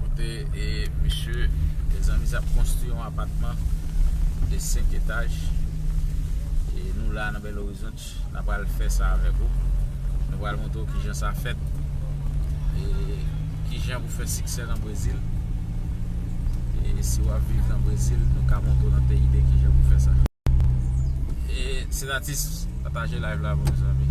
Kote e misye mezanmi sa ap konstwi yon apatman de 5 etaj e nou la nan bel orizont na pral fè sa avek ou nou pral montre ou kijan sa fèt e kijan pou fè siksè nan brezil e si wap viv nan brezil nou ka montre ou nan peyi de kijan pou fè sa e senatis pataje live la pou mezanmi.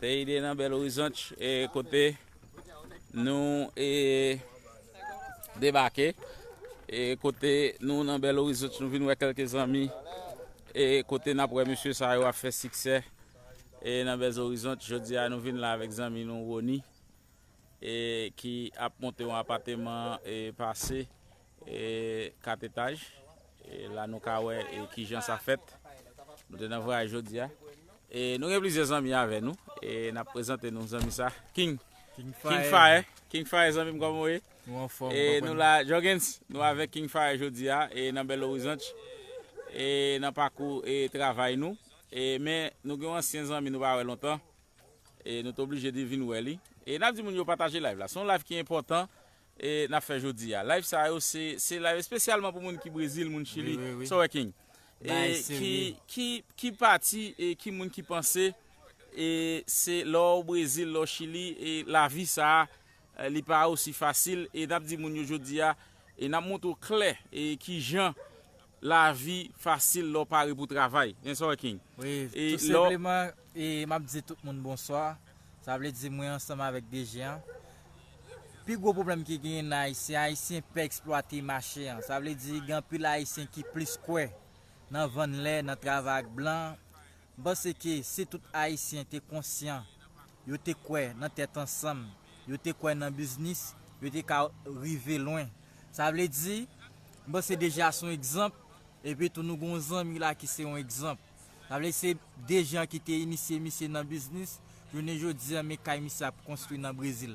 Teyide nan Belo Horizonte e kote nou e debake e kote nou nan Belo Horizonte nou vin wè kelke zanmi e kote nap wè mesye sa yo ap fè siksè e nan Belo Horizonte jodi a nou vin la avèk zanmi nou Rony e ki ap monte yon apateman e pase E 4 etaj e la nou ka wè e kijan sa fèt nou te nan vwayaj jodia e nou gen plizyè zanmi avè nou e nap prezante nou zanmi sa king king fire king fire zanmim kòman ou ye nou anfòm e nou la jògens nou avèk king fire jodia e nan bèl orizant e nan pakou e travay nou e men nou gen yon ansyen zanmi nou pa wè lontan e nou te oblije di vin wè li e nap di moun yo pataje live la se yon live ki enpòtan e nap fè jodia live sa yo se se live espesyalman pou moun ki brezil moun chili sa w wè king e ki ki ki pati e ki moun ki panse e se lè w brezil lè w chili e lavi sa li pa osi fasil e nap di moun yo jodia e nap montre w klè e kijan Lavi fasil lè w pare pou travay. Men sa w wè King. Wi, tou senpleman m ap di tout moun bonswa. Sa vle di mwen ansanm avèk DG an. Pi gwo pwoblèm ki genyen nan Ayisyen, Ayisyen pè eksplwate mache an. Sa vle di gen anpil Ayisyen ki plis kwè nan vann lè, nan travay ak blan, M panse ke si tout Ayisyen te konsyan, yo te kwè nan tèt ansanm, yo te kwè nan biznis, yo te ka rive lwen. Sa vle di, m panse Dejean se yon egzanp, epi tou nou gen yon zanmi la ki se yon egzanp. Sa vle di se Dejean ki te inisye misye nan biznis, jounen jodi an men kay misye ap konstwi nan Brezil.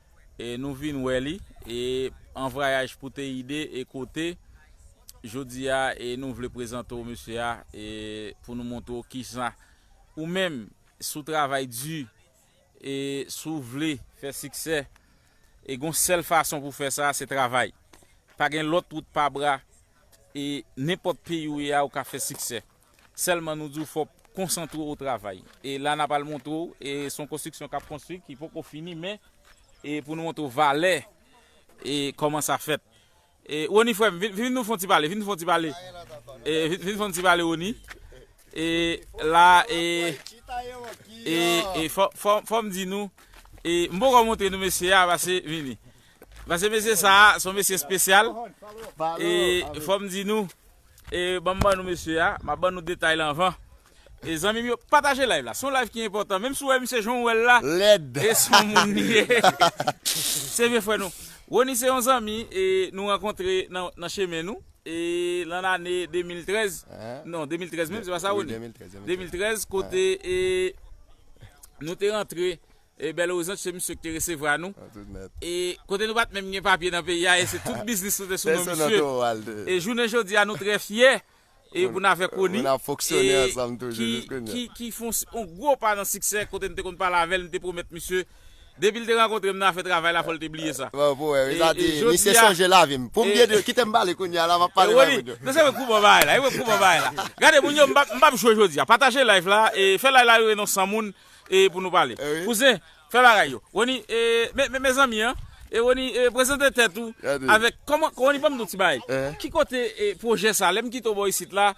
E nou vin wè li, e an vrayaj pou Teide e kote, jodi a e nou vle prezante w mesye a, e pou nou montre w kisa ou menm si w travay di, e si w vle fè siksè, e gon sèl fason pou w fè sa, se travay. Pa gen lòt wout pa bra, e nenpòt peyi ou ye a ou ka fè siksè. Sèlman nou di'w fò'w konsantre o travay. E la na pral montre'w e son konstriksyon kap konstri ki poko fini men e pou nou montre'w valè e kòman sa fèt. E Rony frèm vin nou fon ti pale, vin nou fon ti pale e vin nou fon ti pale Rony e la e e e fò'm di nou e m'poko montre nou mesye a pase vini pase mesye sa son mesye spesyal e fò'm di nou. E banm ban nou mesye a, map ban nou detay la anvan e zanmim yo pataje live la son live ki enpòtan menm si ou wè misye jan ou wèl la e son moun li ye se vye frè nou Rony se yon zanmi e nou rankontre nan chemen nou e lan lane 2013 non 2013 menm se pa sa Rony 2013 kote e nou te rantre E Bel Horizonte se misye ki te resevra nou e kote nou pat menm gen papye nan peyi a e se tout biznis nou te sou non misye e jounen jodi a nou trè fyè e pou n avek Rony e ki fon yon gwo pa nan siksè kote nou te konn pale avèl nou te pwomèt misye depi l te rankontre m nan afè travay la fò l te bliye sa e jodi a e Rony nou se vre kou bon bagay la e vre kou bon bagay la gade moun yo m pap jwe jodi a pataje live la e fè live la rive nan 100 moun. e pou nou pale. Kouzen, fè bagay yo. Rony, men, mezanmi an, Rony, prezante tèt ou avèk, kòman, Rony banm di w ti bagay, ki kote pwojè sa, lè m kite w bò isit la,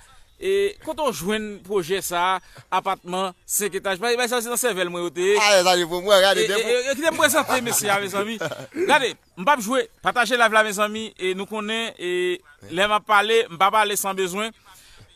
kote w jwenn pwojè sa, apatman 5 etaj, bay sa se nan sèvèl mwen yo te ye, e kite m prezante mesye a mezanmi, gade. M pap jwe. Pataje live la mezanmi e nou konnen e lè map pale m pa pale san bezwen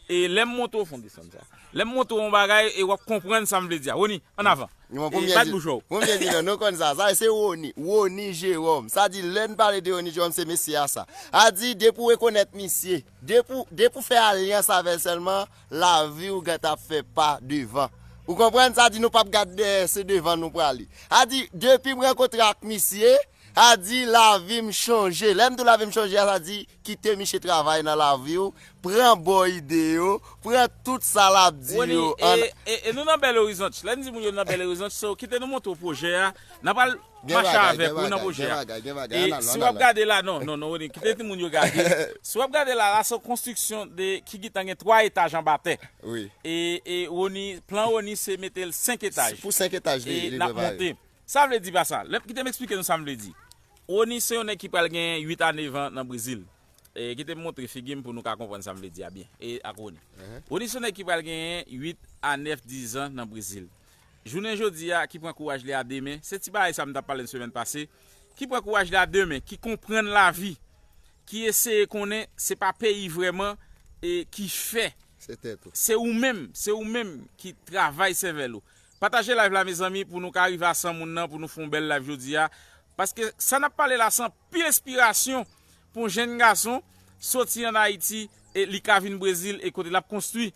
e lèm montre w fon desann sa lèm montre w yon bagay e wap konprann sam vle di a Rony an avan e bat bouch ou. Premye di nan nou konn sa sa se Rony Rony Jérôme sa di lèn pale de Rony Jérôme se mesye a sa a di depi w rekonèt misye depi w depi w fè alyans avèl sèlman. Lavi ou gèt ap fè pa devan. Ou konprann sa di nou pap gad dèyè se devan nou prale. A di depim rankontre ak misye a di lavim chanje lèm di w lavim chanje a sa di kite miche travay nan lavi w pran bon ide yo pran tout sa lap di yo an. Rony, e nou nan bèl orizonch lè n di moun yo nan bèl orizonch so kite nou montre w pwojè a nan pral. Gen mache bagay, avèk gen ou nan bagay, pwojè gen a. bagay, gen bagay. E An al, si an w al ap la. gade la, non, non, non, Rony, kite timoun yo gade. Si w ap gade la, la se yon konstriksyon de, ki gentan gen 3 etaj anba tè. Wi. E, e Rony, plan Rony se mete l 5 etaj. Pou 5 etaj li, E li n ap prepare. monte. Sa vle di pa sa. Lè, kite m esplike nou sa m vle di. Rony se yon nèg ki pral gen 8 a 9 an nan Brezil. E kite m montre figi m pou nou ka konprann sa m vle di a byen, e ak Rony. Rony se yon nèg ki pral genyen 8 a 9, 10 zan nan Brezil. Jounen jodi a, ki pran kouraj li a demen, se ti bagay sa m t ap pale n semèn pase, ki pran kouraj li a demen, ki konprann lavi, ki eseye konnen se pa peyi vrèman e ki fè, se ou menm, se ou menm ki travay sèvèl ou. Pataje live la mezanmi pou nou ka rive a 100 moun nan pou nou fon bèl live jodi a, paske sa n ap pale la se anpil enspirasyon pou jenn gason soti an Ayiti e li ka vin Brezil e kote l ap konstwi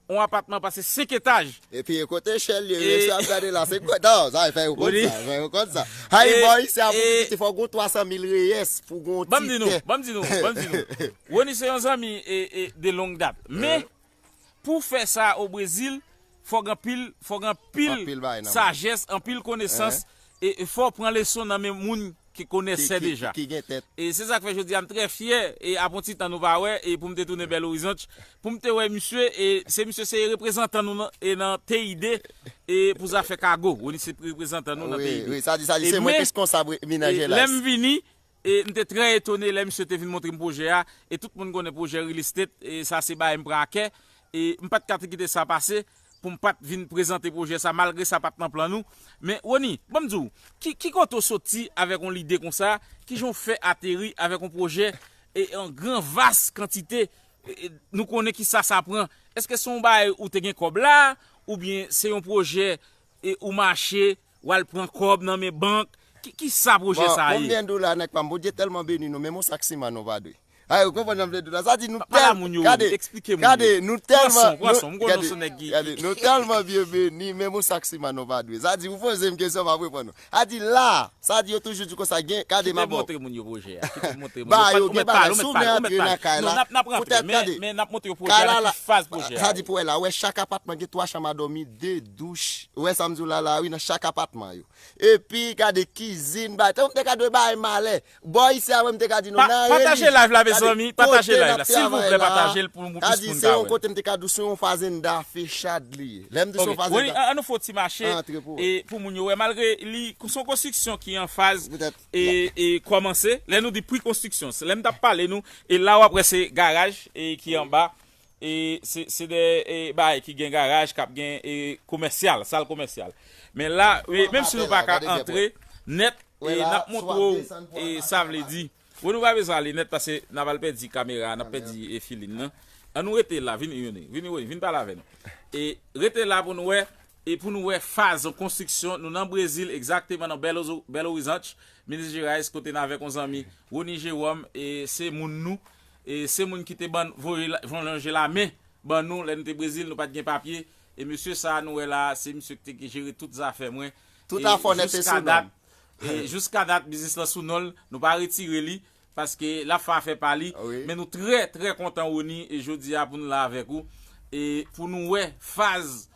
On apatman pase 5 etaj. Epi kote Shirley resi ap gade la se kont non sa fè yo kont sa fè yo kont sa Hi boy se a pou pitit li fòk gon 300 mil reyes pou gon ti tè. Banm di nou banm di nou banm di nou Rony se yon zanmi de long dat men pou fè sa o Brezil fòk anpil fòk anpil sajès anpil konesans E fòw pran leson nan men moun ki konèsè deja. Ki gen tèt. E se sak fè jodi a m trè fyè e ap on ti tan nou pa wè e pou m te tounen Belo Horizonte pou m te wè misye e se misye se reprezantan nou nan e nan TID e pou zafè kago. Rony se reprezantan nou nan TID. Wi, wi, sa di sa di se mwen ki reskonsab mina Gelas. E lè m vini E m te trè etone lè misye te vin montre m pwojè a, e tout moun konnen pwojè Real Estate sa se bagay m pran a kè, e m pa t ka kite sa pase pou m pa t vin prezante pwojè sa malgre sa pa t nan plan nou. Men Rony, ban m di w, ki kote w soti avèk yon lide konsa, ki jan w fè ateri avèk yon pwojè an gran vas kantite, nou konnen ki sa sa pran, èske se yon bagay ou te gen kòb la, oubyen se yon pwojè E ou mache wal pran kob nan men bank kisa projet sa ye. Bon konbyen dola nèg pam bondye telman beni nou menm yon sak siman nou pa dwe a ou konprann janm vle dila sa di nou telman gade gade nou telman gade nou telman byen beni menm yon sak siman nou pa dwe sa di ou pozem kesyon map reponn ou A di la a! Sa di yo toujou di konsa gen, kade mabò. Kite montre moun yo pwojè a, kite montre moun yo. Ba yo gen bagay, si w vle antre nan kay la, pou tèt kade. Men nap montre yo pwojè a, nan ki faz pwojè a ye. Sa di pou wè la, wè chak apatman gen 3 chanm a dòmi, 2 douch, ou wè sa m di w la la wi nan chak apatman yo. Epi gade kizin, bay, te ka dwe bay malè, Bò isi a wè m te ka di nou nan reli. Pataje live la mezanmi, pataje live la silvouplè patajel pou plis moun ka wèl. Kadi se yon kote m te ka di w se yon fazenda fechad li ye. Lè m di se yon fazenda. Ok an nou fè yon ti mache pou moun yo wè malgre li se yon konstriksyon ki an faz e kòmanse. Lè nou di pre konstriksyon se lè m tap pale nou e la wap wè se garaj ki anba E se de bagay ki gen garaj kap gen e komèsyal, sal komèsyal. Men la, menm si nou pa ka antre nèt, nap montre w e sa vle di. Wè nou pa bezwen ale nèt pase nap al pèdi kamera, nap pèdi e filin nan. An nou rete la, vini Yony, vini Rony, vini pale avè nou. E rete la pou nou wè, e pou nou wè faz yon konstriksyon, nou nan Brezil egzakteman nan Belo Horizonte, Minas Gerais kote n avèk yon zanmi Rony Jerome e se moun nou. Se moun ki te ban voye lonje la men ban nou lè nou te Brezil nou pat gen papye e mesye sa nou wè la se misye ki te jere tout zafè mwen Tout afè w nèt e sou non l. Jiska dat biznis lan sou non l nou pa retire li paske lap fè afè pa li men nou trè trè kontan Rony jodi a pou nou la avèk ou e pou nou wè faz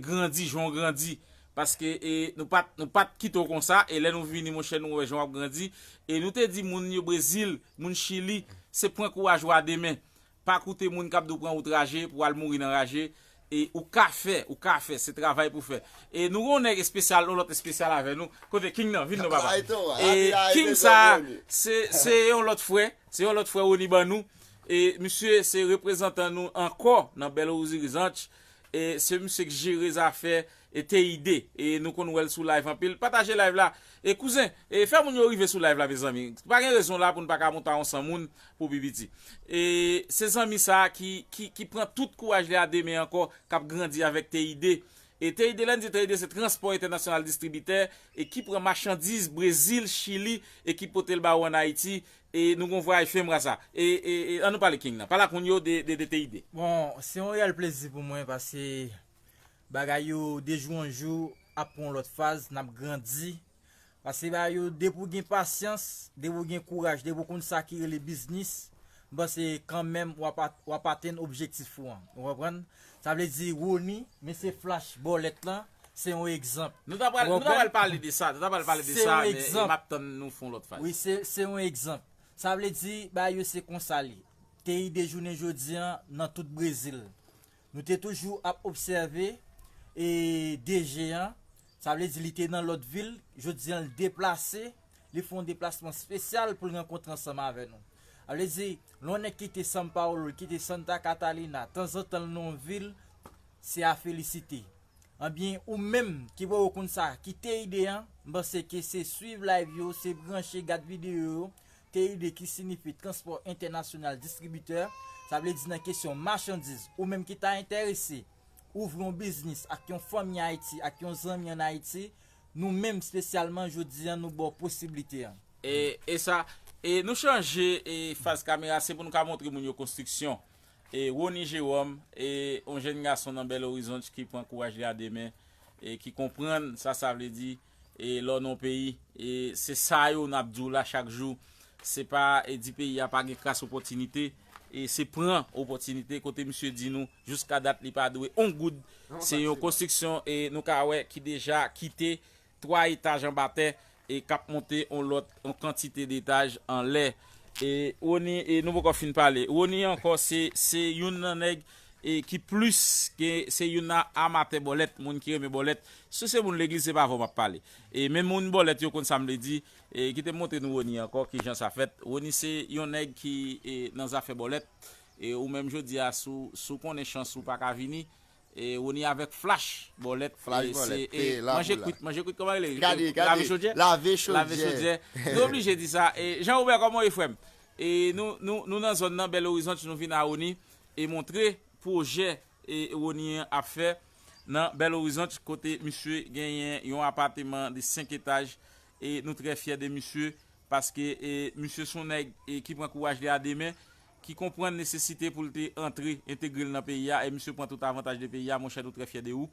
grandi jan w grandi paske e nou pat nou pat kite w konsa e lè nou vini monchè nou wè jan w ap grandi e nou te di moun yo brezil moun chili se pran kouraj ou a de men pa koute moun k ap di w pran wout raje pou w al mouri nan raje e ou ka fè ou ka fè se travay pou fè e nou gen yon nèg espesyal yon lòt espesyal avè nou kote king nan vin non papa e king sa a se se yon lòt frè se yon lòt frè Rony ban nou e misye se reprezantan nou ankò nan bèl orizirizanch. Se misye k jere zafè Teyide nou konn wèl sou live anpil pataje live la kouzen fè moun yo rive sou live la mezanmi pa gen rezon la poun paka monte a yon 100 moun pou pi piti se zanmi sa ki pran tout kouraj li a demen ankò kap grandi avèk Teyide Teyide lèn di Teyide se transpò entènasyonal distribitè ki pran machandiz brezil chili ki potel ba ou an ayiti E nou gon vwayaj fen bra sa. E an nou pale king nan. Pale ak moun yo de de TID. Bon se yon reyèl plezi pou mwen paske bagay yo de jou an jou ap pran yon lòt faz nap grandi paske bagay yo depi ou gen pasyans depi ou gen kouraj depi ou konn sa ki rele biznis m panse kanmenm wap atenn objektif ou an ou konprann. Sa vle di Rony mesye flash bòlèt lan se yon egzanp. Nou ta pral pale de sa, nou ta pral pale de sa men map tann nou fon lòt faz. Wi se yon egzanp. Sa vle di bagay yo se konsa li te ide jounen jodi an nan tout Brezil. Nou te toujou ap obsève e DG an, sa vle di li te nan lòt vil, jodi an li deplase, li fon deplasman spesyal pou l rankontre ansanm avè nou. A vle di, lè yon nèg kite San Paolo, li kite Santa Catalina, tanzantan l nan yon vil, se a felisite. Anbyen, ou menm ki pa wè w konn sa, kite ide an, m panse ke se swiv live yo, se branche, gad videyo yo, TID ki sinifi Transpò Entènasyonal Distribitè, sa vle di nan kesyon machandiz. Ou menm ki ta enterese ouvri yon biznis ak yon fanmi Ayiti, ak yon zanmi an Ayiti, Nou menm spesyalman jodi an nou ba w posiblite an. E sa e nou chanje e faz kamera se pou nou ka montre moun yo konstriksyon e Rony Jérôme e yon jèn gason nan Belo Horizonte ki pran kouraj li a de men e ki konprann sa sa vle di e lè w nan yon peyi e se sa yo n ap di w la chak jou se pa e di peyi a pa gen kras opòtinite e se pran opòtinite kote misye di nou. Jouska dat li pa dwe on goud. Se yon konstriksyon nou ka wè ki deja kite 3 etaj anba tè e k ap monte on lòt on kantite detaj anlè. E Rony e nou poko fin pale. Rony ankò se se youn nan nèg e ki plis ke se youn nan amatè bòlèt, moun ki renmen bòlèt. Si se moun legliz se pa avè w m ap pale. E men moun bòlèt yo konn sa m vle di. E kite m montre nou Rony ankò kijan sa fèt. Rony se yon nèg ki e nan zafè bòlèt. e ou menm jodi a sou sou konnen chans ou paka vini e Rony avèk Flash bòlèt Flash bòlèt e la manje pou la kwit manje kwit kòman rele gade gade lave chodyè lave chodyè lave chodyè nou oblije di sa e Jean Robert kòman ou ye frèm e nou nou nou nan zòn nan Bèl Orizant nou vin a Rony e montre pwojè e Rony ap fè nan Bèl Orizant kote misye genyen yon apateman de 5 etaj e nou trè fyè de misye paske e misye son nèg e ki pran kouraj li a 2 men. ki konprann nesesite pou l te antre, entegre l nan peyi a, e misye pran tout avantaj de peyi a, monchè nou trè fyè de ou.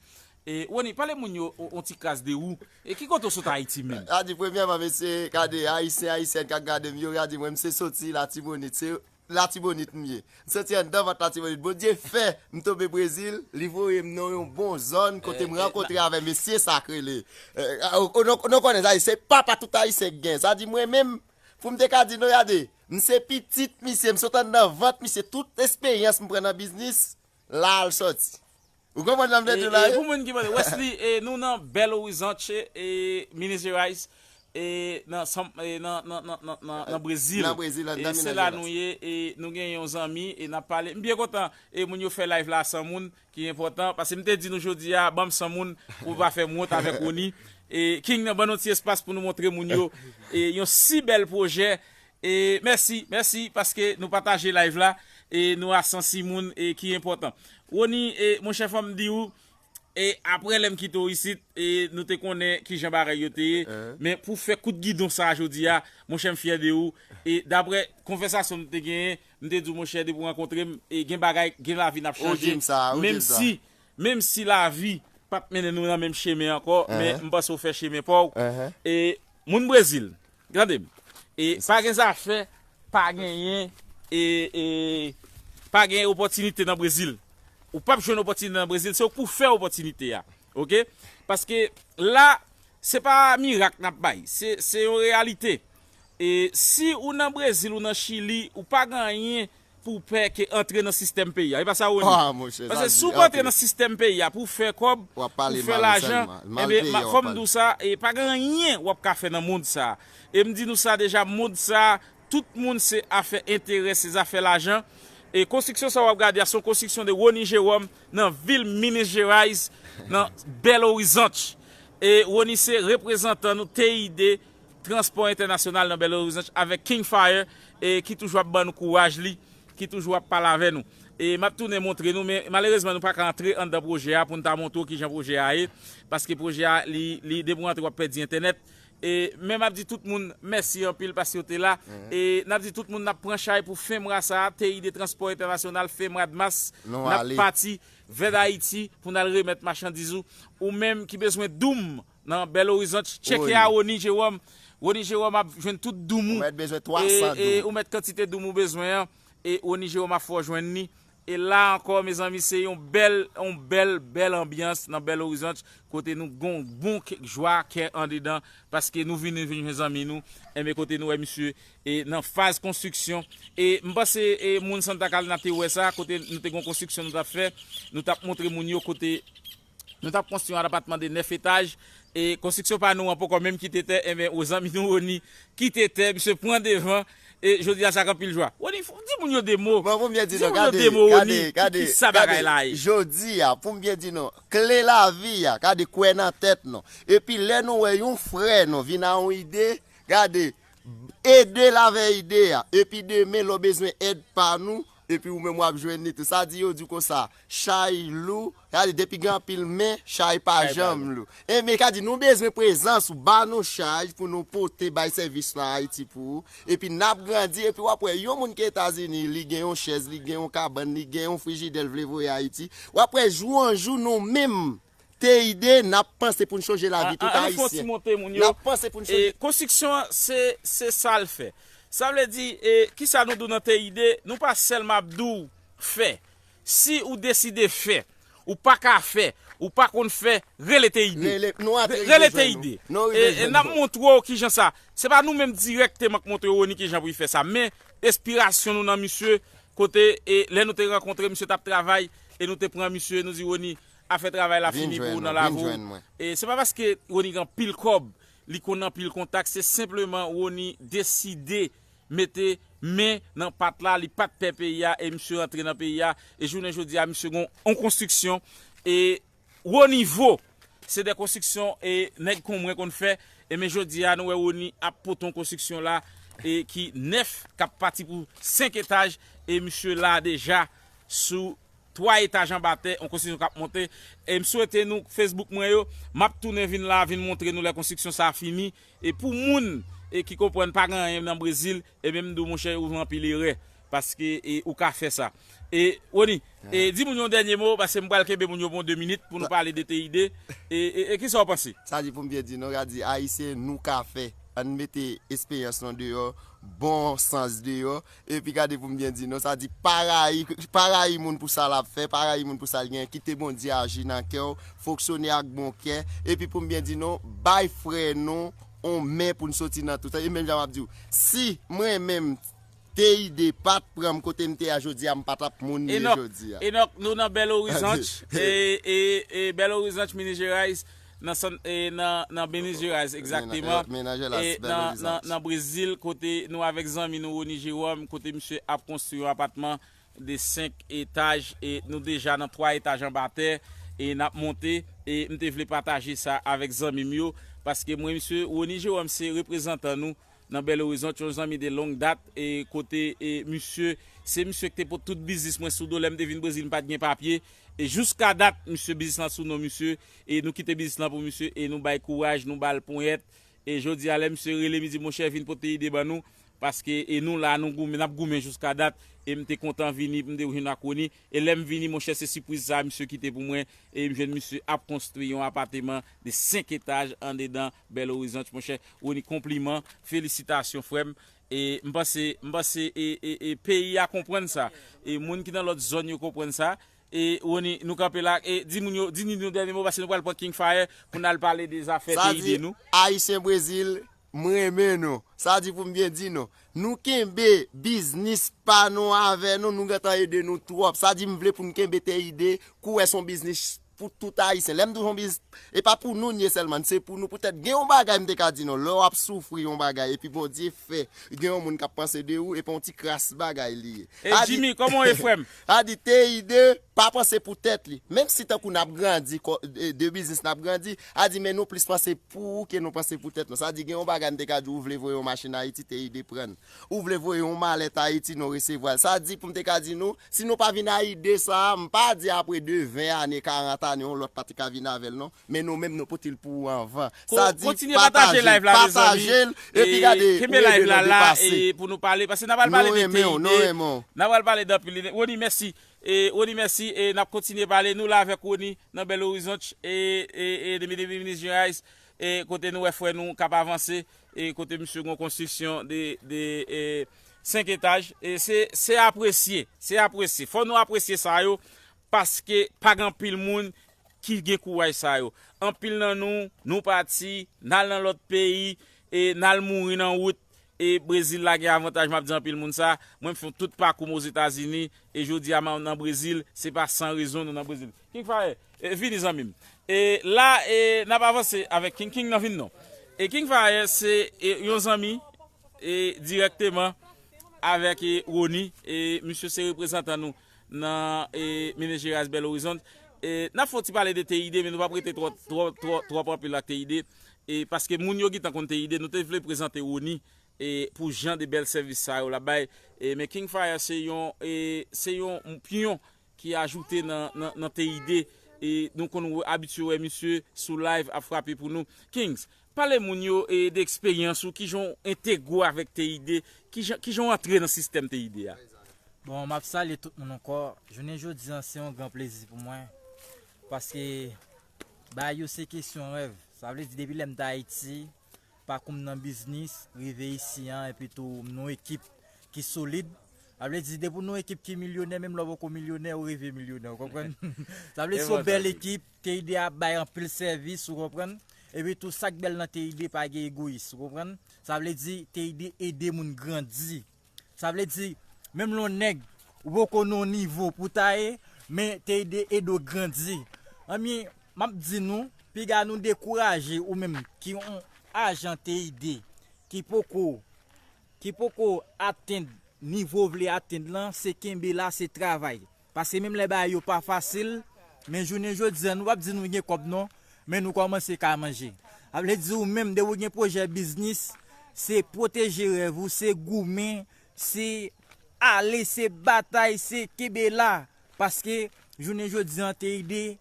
E, Rony, pale moun yo on ti kras de ou, e ki kote w sot Ayiti menm? Rady, Premyèman mesye, gade, Ayisyen, Ayisyèn k ap gade m yo, Rady, mwen m se soti Latibonit, se Latibonit m ye. M soti anndan vant Latibonit. Bondye fè, m tonbe Brezil, li voye m nan yon bon zòn kote m rankontre avè mesye sa k rele, nou konnen Ayisyen, papa tout Ayisyen gen, sa di mwen menm, Pou m te ka di non yade, m se pitit misye, m sot anndan vant misye, tout esperyans m pran nan biznis, la l soti. Ou konprann sa m vle di w la wi? Pou moun ki pa. Wesly, nou nan Belo Horizonte, Minas Gerais, nan Brezil. Nan Brezil, anndan Minas Gerais. Se la nou ye, nou gen yon zanmi, n ap pale. M byen kontan, moun yo fè live la a 100 moun, ki enpòtan paske m te di nou jodi a banm 100 moun pou pa fè m wont avèk Rony e King nan ban nou ti espas pou nou montre moun yo e yon si bèl pwojè e mèsi mèsi paske nou pataje live la e nou a 106 moun e ki enpòtan Rony e monchè fò m di ou e aprè lè m kite w isit e nou te konnen kijan bagay yo te ye men pou fè kout gidon sa jodi a monchè m fyè de ou e daprè konvèsasyon nou te genyen. M te di w monchè depi w rankontre m e gen bagay gen lavi n ap chanje menm si menm si lavi pa t mennen nou nan menm chemen ankò men m panse w fè chemen pa w e moun brezil tande m e pa gen zafè pa genyen e e pa gen opòtinite nan brezil ou pap jwenn opòtinite nan brezil se ou k pou fè opòtinite a ok paske la se pa mirak n ap bay se se yon reyalite. E si ou nan brezil ou nan chili ou pa gen anyen pou w pè ke antre nan sistèm peyi a e pa sa Rony? Ah monchè sa di anpil. Paske si w pa antre nan sistèm peyi a pou w fè kòb, pou w fè lajan, enben fò m di w sa e pa gen anyen wap ka fè nan mond sa. E m di nou sa deja mond sa tout moun se afè enterè se zafè lajan e konstriksyon sa wap gade a son konstriksyon de Rony Jerome nan vil Minas Gerais nan Belo Horizonte e Rony se reprezantan nou TID Transpò entènasyonal nan Belo Horizonte avèk King Fire e ki toujou ap ban nou kouraj li, ki toujou ap pale avè nou. E map tounen montre nou men malerezman nou paka antre anndan pwojè a pou n ta montre w kijan pwojè a ye paske pwojè a li li depi w antre wap pèdi entènèt e men map di tout moun mèsi anpil paske yo te la e nap di tout moun nap pran chay pou FEMRA sa a TI de transpò entènasyonal FEMRADMAS nap pati vè dayiti pou n al remèt machandiz ou ou menm ki bezwen doum Nan Belo Horizonte, tcheke a Rony Jerome. Rony Jerome ap jwenn tout doum ou. Ou mèt bezwen 300 doum. Ou mèt kantite doum ou bezwen an. Rony Jerome ap fè w jwenn li. E la ankò mezanmi se yon bèl, yon bèl, bèl anbyans nan Belo Horizonte kote nou gon bon jwa kè andedan paske nou vini vin jwenn zanmi nou. Enben kote nou wè misye e nan faz konstriksyon. E m panse e moun Santa Calina te wè sa kote nou te gon konstriksyon nou t ap fè. Nou t ap montre moun yo kote. Nou tap konstwi yon apatman de 9 etaj e konstriksyon pa nou an poko menm kite tè enben o zanmi nou Rony kite tè misye pran devan e jodi a sa ak anpil jwa. Rony fon di moun yo 2 mo Bon poum byen di nou gade gade gade gade jodi a poum byen di nou kle lavi a gade kwè nan tèt nou epi lè nou wè yon frè nou vin a yon ide gade edel avè ide a epi demen lè w bezwen èd pa nou Epi ou menm wap jwenn li tou. Sa di yo di konsa chay lou sa di depi gen anpil men chay pa janm lou enben sa di nou bezwen prezans ou ba nou chaj pou nou pote bay sèvis lan ayiti pou ou epi nap grandi epi wap wè yon moun ki etazini li gen yon chèz li gen yon kabann li gen yon frijidè l vle voye ayiti wap wè jou an jou nou menm Teide, n ap panse pou n chonje lavi tout Ayisyen. An nou fè yon ti monte moun yo. N ap panse pou n chonje. Konstriksyon an, se sa l fè. Sa vle di, ki sa nou di w nan Teide, nou pa sèlman ap di w fè. Si ou deside fè, ou pa ka fè, ou pa konn fè, rele Teide. Rele Teide. N ap montre w ki jan sa. Se pa nou menm dirèkteman k montre Rony ki jan pou li fè sa. Men, enspirasyon nou nan misye, kote lè nou te rankontre, misye t ap travay, e nou te pran misye, nou di Rony, Afè travay la fini pou ou nan lavi w e se pa paske Rony gen anpil kòb, li konn anpil kontak se senpleman Rony deside mete men nan pat la li pat pè peyi a e misye rantre nan peyi a e jounen jodi a misye gen yon konstriksyon e wo nivo se de konstriksyon e nèg kon mwen konn fè enben jodi a nou wè Rony ap pote yon konstriksyon la e ki nèf kap pati pou 5 etaj e misye la deja sou. 3 etaj anba tè, yon konstriksyon kap monte, e m swete nou Facebook mwen yo, map tounen vin la vin montre nou lè konstriksyon sa fini, e pou moun e ki konprann pa gen anyen nan Brezil, ebyen m di w monchè ou jwenn anpil erè, paske e ou ka fè sa. E Rony, e di moun yon dènye mo, paske m pral kenbe moun yo pou yon 2 minit pou nou pale de TID, e e kisa w panse? Sa di pou m byen di nou, ka di ayisyen nou ka fè, ann mete esperyans nou deyò, bon sans deyò, Epi gade pou m byen di non, sa di pa rayi, pa rayi moun pou sa l ap fè, pa rayi moun pou sa l genyen, kite Bondye aji nan kè w, fonksyone ak bon kè, epi pou m byen di non, bay frè nou on men pou n soti nan tout sa, e menm jan m ap di w, si mwen menm TID pa t pran m kote m te a jodi a, m pa t ap moun m ye jodi a. Enock, Enock, nou nan Belo Horizonte, e Belo Horizonte, Minas Gerais. nan sant e nan Benezueraz egzakteman e nan Brezil kote nou avèk zanmi nou Rony Jerome kote misye ap konstri yon apatman de 5 etaj e nou deja nan 3 etaj anba tè e n ap monte e m te vle pataje sa avèk zanmi m yo paske mwen misye Rony Jerome se reprezantan nou nan Belo Horizonte yon zanmi de long dat e kote e misye se misye ki te pot tout biznis mwen sou do lè m te vin Brezil m pat gen papye e jouska dat misye biznis lan sou non misye. e nou kite biznis lan pou misye e nou bay kouraj nou bal ponyèt e jodi a lè misye rele mi di monchè vin pote ide ban nou paske e nou la nou goumen nap goumen jouska dat e m te kontan vini pou m te jwenn ak Rony e lè m vini monchè se sipwiz sa misye kite pou mwen e m jwenn misye ap konstwi yon apateman de 5 etaj andedan Belo Horizonte monchè Rony konpliman felisitasyon frè m e m panse m panse e e e peyi a konprann sa e moun ki nan lòt zòn yo konprann sa E Rony nou kanpe la e di moun yo di Nini yon dènye mo paske nou pral pran King Fire pou n al pale de zafè Sa peyi di de nou. Ayisyen Brezil m renmen nou. Sa di pou m byen di nou. Nou kenbe biznis pa nou avè nou, nou gentan ede nou twòp. Sa di m vle pou n kenbe peyi de kouwè s on biznis pou tout Ayisyen. Lè m di w s on biznis, e pa pou nou n ye sèlman n, se pou nou. Poutèt gen yon bagay m te ka di nou, lè w ap soufri yon bagay epi Bondye fè gen yon moun k ap panse de ou, e pa yon ti kras bagay li ye. E Sa di. Jimmy kòman w ye frè m? A di TIDE pa panse pou tèt li. Menm si tankou nap grandi kò de biznis nap grandi, a di men nou plis panse pou ou ke nou panse pou tèt nou. Sa di gen yon bagay m te ka di w ou vle voye yon machin Ayiti TIDE pran l. Ou vle voye yon malèt Ayiti nou resevwa l. Sa di pou m te ka di nou si nou pa vin a ide sa a, m pa di apre de 20 ane, 40 ane yon lòt pa te ka vin avè l non. Men nou menm nou pote l pou ou anvan. Sa di pataje l, pataje l, epi gade ou ede nou depase. Nou renmen w, nou renmen w. N apral pale danpil li. Rony mèsi. Rony mèsi e n ap kontinye pale. Nou la avèk Rony nan Belo Horizonte e e depi depi Minis Gerais e kote nou wè frè nou k ap avanse e kote misye gen yon konstriksyon de de e 5 etaj e se se apresye se apresye fò nou apresye sa yo. Paske pa gen anpil moun ki gen kouraj sa yo. Anpil nan nou, nou pati, n al nan lòt peyi, e n al mouri nan wout, e Brezil la gen avantaj m ap di anpil moun sa, mwen m fè tout pakou m Ozetazini, e jodi a m nan Brezil, se pa san rezon nou nan Brezil. King Fire, vini zanmi m. E la e n ap avanse avèk King. King nan vin non. E King Fire se yon zanmi e dirèkteman avèk Rony, e misye se reprezantan nou. nan Minis Gerais Belo Horizonte. N ap fè yon ti pale de TID men nou pa p rete twòp anpil ak TID paske moun yo gentan konn TID. Nou te vle prezante Rony pou jan de bèl sèvis sa yo l ap bay men King Fire se yon pyon ki ajoute nan TID. Nou konn abitye wè misye sou live ap frape pou nou. Kings, Pale moun yo de eksperyans ou, kijan w entegre avèk TID, kijan w antre nan sistèm TID a. Bon, m ap salye tout moun ankò. Jounen jodi an se yon gran plezi pou mwen paske bagay yo se kesyon rèv. Sa vle di depi lè m te Ayiti, pakou m nan biznis, rive isi an epi tou m nan yon ekip ki solid. Sa vle di depi w nan yon ekip ki milyonè menm lè w poko milyonè ou rive milyonè ou konprann. Sa vle di se yon bèl ekip. TID ap bay anpil sèvis ou konprann, epi tou sak bèl nan TID pa gen egoyis ou konprann, sa vle di TID ede moun grandi, sa vle di menm lè yon nèg ou poko nan yon nivo pou ta ye men TID ede w grandi, ebyen map di nou piga nou dekouraje ou menm ki yon ajan TID ki poko ki poko atenn nivo ou vle atenn lan se kenbe la se travay. Paske menm lè bagay yo pa fasil, men jounen jodi an nou pap di nou gen kòb non, men nou kòmanse ka manje. Sa vle di ou menm depi ou gen pwojè biznis, se pwoteje rèv ou, se goumen, se ale, se batay, se kenbe la. Paske jounen jodi an TID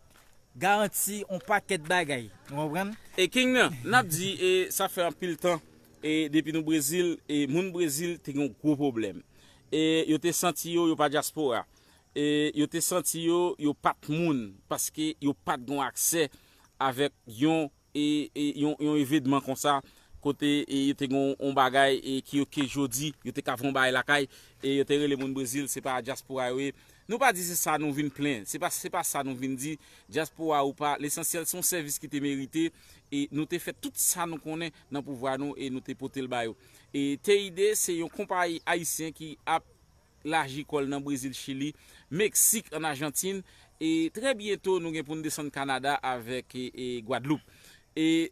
garanti on pakèt bagay. Nou konprann? E King nan, nap di e sa fè anpil tan e depi nou Brezil e moun Brezil te gen yon gwo pwoblèm. E yo te santi yo, yo pa dyaspora. E yo te santi yo, yo pa t moun, paske yo pa t gon aksè avèk yon yon evedman konsa, kote yo te gon yon bagay ki yo ke jodi, yo te ka fè yon bagay lakay, e yo te rele moun Brezil, se pa dyaspora yo ye. Nou pa di se sa nou vin plen, se pa se pa sa nou vin di, dyaspora ou pa, lesansyèl se yon sèvis ki te merite, e nou te fè tout sa nou konnen nan pouvwa nou e nou te pote l ba yo. Teide se yon konpayi ayisyen ki ap laji kò l nan Brezil, Chili, Meksik, an Ajantin e trè byento nou gen pou n desann Kanada avèk Gwadloup. E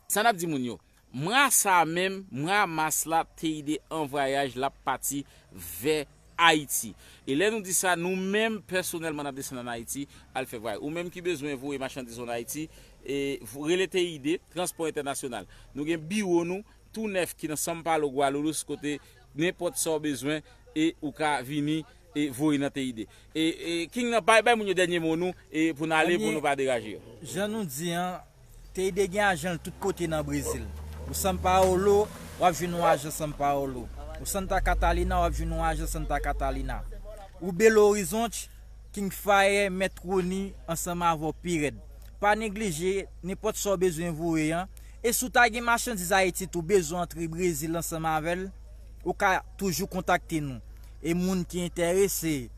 sa n ap di moun yo, mwa sa a menm, mwa mas la, Teide an vwayaj, l ap pati vè Ayiti. E lè nou di sa, nou menm pèsonèlman n ap desann ann Ayiti al fè vwayaj. Ou menm ki bezwen voye machandiz w ann Ayiti, rele TID, Transpò Entènasyonal. Nou gen biwo nou tou nèf ki nan São Paulo, Guarulhos, kote nenpòt sa w bezwen e ou ka vini e voye nan TID. E King nan bay moun yo dènye mo nou e pou n ale pou nou pa deraje yo. Jan nou di an. Teide gen ajan l tout kote nan Brezil. O San Paolo, w ap jwenn yon ajan San Paolo. O Santa Catalina, w ap jwenn yon ajan Santa Catalina. O Belo Horizonte, King Faye, Mèt Rony, ansanm avè w pi rèd. Pa neglije, nenpòt sa w bezwen voye an. E si w ta gen machandiz Ayiti tou, bezwen antre Brezil ansanm avè l, ou ka toujou kontakte nou. E moun ki enterese.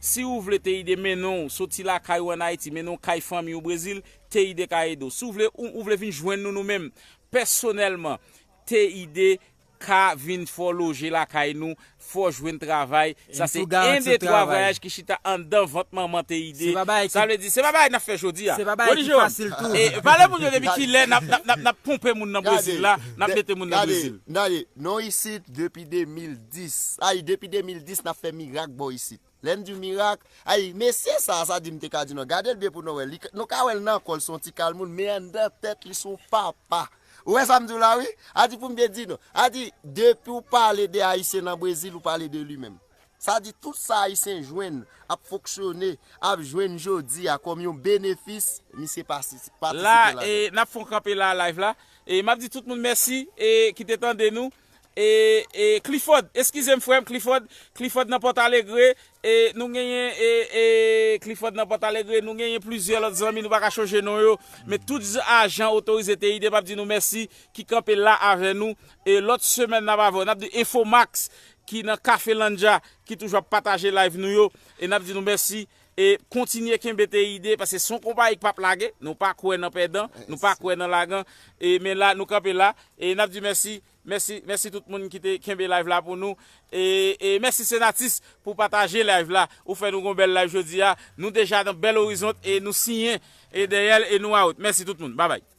Si ou vle Teide mennen w soti lakay ou an Ayiti, mennen w kay fanmi ou Brezil, Teide ka ede w. Si w vle ou vle vin jwenn nou nou menm, pèsonèlman, Teide ka vin fè w loje lakay nou, fè w jwenn travay, sa se 1 2 3 vwayaj ki chita anndan vant manman Teide, sa vle di se pa bagay n ap fè jodi a. Rony Jérôme, e pale pou m yo depi kilè n ap ponpe moun nan Brezil la, n ap mete moun nan Brezil? Gade, gade, nou isit depi 2002. 10, Ayy depi 2010 nap fè mirak bò isit. Lèm diw mirak, ayy mesye sa, sa di m te ka di non, gadel byen pou nou wè, li ka, nou ka wèl nan kòl son ti kal moun men anndan tèt li son papa. Ou wè sam diw la wi? A di poum te di nou, a di depiw pale de ayisyen nan Brezil ou pale de li menm. Sa di tout sa ayisyen jwenn, ap fonksyone, ap jwenn jodi a kòm yon benefis, misye patisipe ladan. La e nap fon kanpe la live la e map di tout moun mèsi e ki te tande nou. E e Clifford eskize m frè m Clifford Clifford nan Pòtalegre e nou genyen e e Clifford nan Pòtalegre nou genyen plizyè lòt zanmi nou pa ka chonje non yo men tout z ajan otorize te ide m ap di nou mèsi ki kanpe la avè nou e lòt semèn n ap avè w n ap di Infomax ki nan Cafelandja ki toujou ap pataje live nou yo e n ap di nou mèsi E kontinye kenbe TID paske son konpayi k pap lage, nou pa kwè nan pèdan, nou pa kwè nan lagan, e men la nou kanpe la, e nap di mèsi, mèsi, mèsi tout moun ki te kenbe live la pou nou, e e mèsi Senatus pou pataje live la, ou fè nou gon bèl live jodia, nou deja nan bèl orizont e nou siyen e dèyèl e nou out, mèsi tout moun, babay.